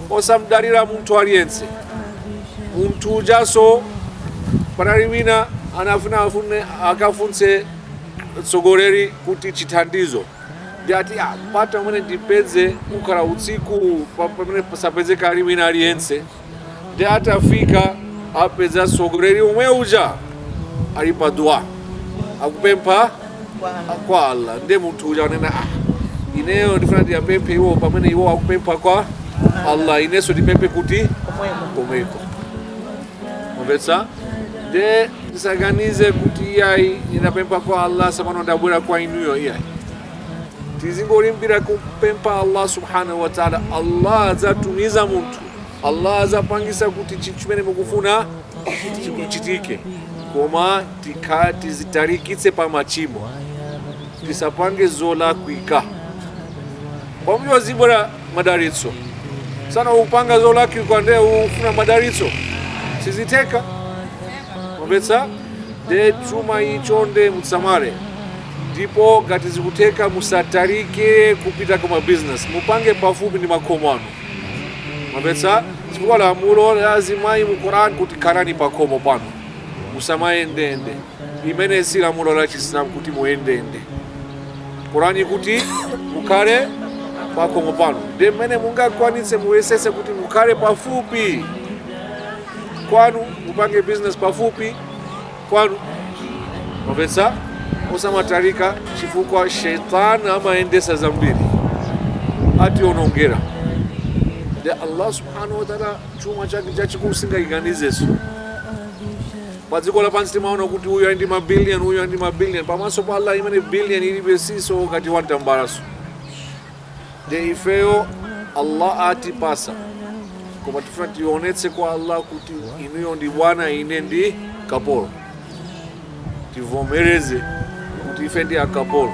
osamdalira munthu aliyense munthu ujaso panali wina anafuna akafunse mtsogoleri kuti chithandizo ndiye ati "Ah, mpata umene ndipeze ukhala utsiku pamene pasapezeka ali wina aliyense nde atafika apeza mtsogoleri umwe uja ali pa dua akupempha kwa Allah ndiye munthu uja anena ah ineyo ndifuna ndiyapemphe iwo pamene iwo akupempha kwa Allah inenso ndipemphe kuti komweko mvetsa nde ndisaganize kuti iyayi ndinapempha kwa Allah sopano ndabwera kwa inuyo iyayi tizingolimbikira kupempha Allah subhanahu wa ta'ala Allah adzatumiza munthu Allah adzapangisa kuti chimene mukufuna chikuchitike koma tizitalikitse pa machimo tisapange zolakwika pamene azibwera madalitso masana upanga zolakwika nde ufuna madalitso sizitheka mwamvetsa nde chuma icho nde musamale ndipo ngati zikutheka musatalike kupita kuma business mupange pafupi ndi makomo anu mwamvetsa chifukwa lamulo la azimayi mu quran kuti khalani pakhomo panu musamayendeyende imene si lamulo la chisilamu kuti muyendeyende korani kuti mukhale pakhomo panu nde mmene mungakwanitse muyesese kuti mukhale pafupi kwanu mupange business pafupi kwanu mwamvetsa musamatalike chifukwa sheitani amayendesa zambiri ationongera nde allah subhanahu wataala chuma chake chachikulu singachiganizeso padziko lapansi timaona kuti uyu ali ndi mabiliyoni uyu ali ndi mabiliyoni pamaso pa allah imene biliyoni ilibe siso kati wantambalaso nde ifeyo allah atipasa koma tifuna tionetse kwa allah kuti inuyo ndi bwana ine ndi kapolo tivomereze kuti ife ndi akapolo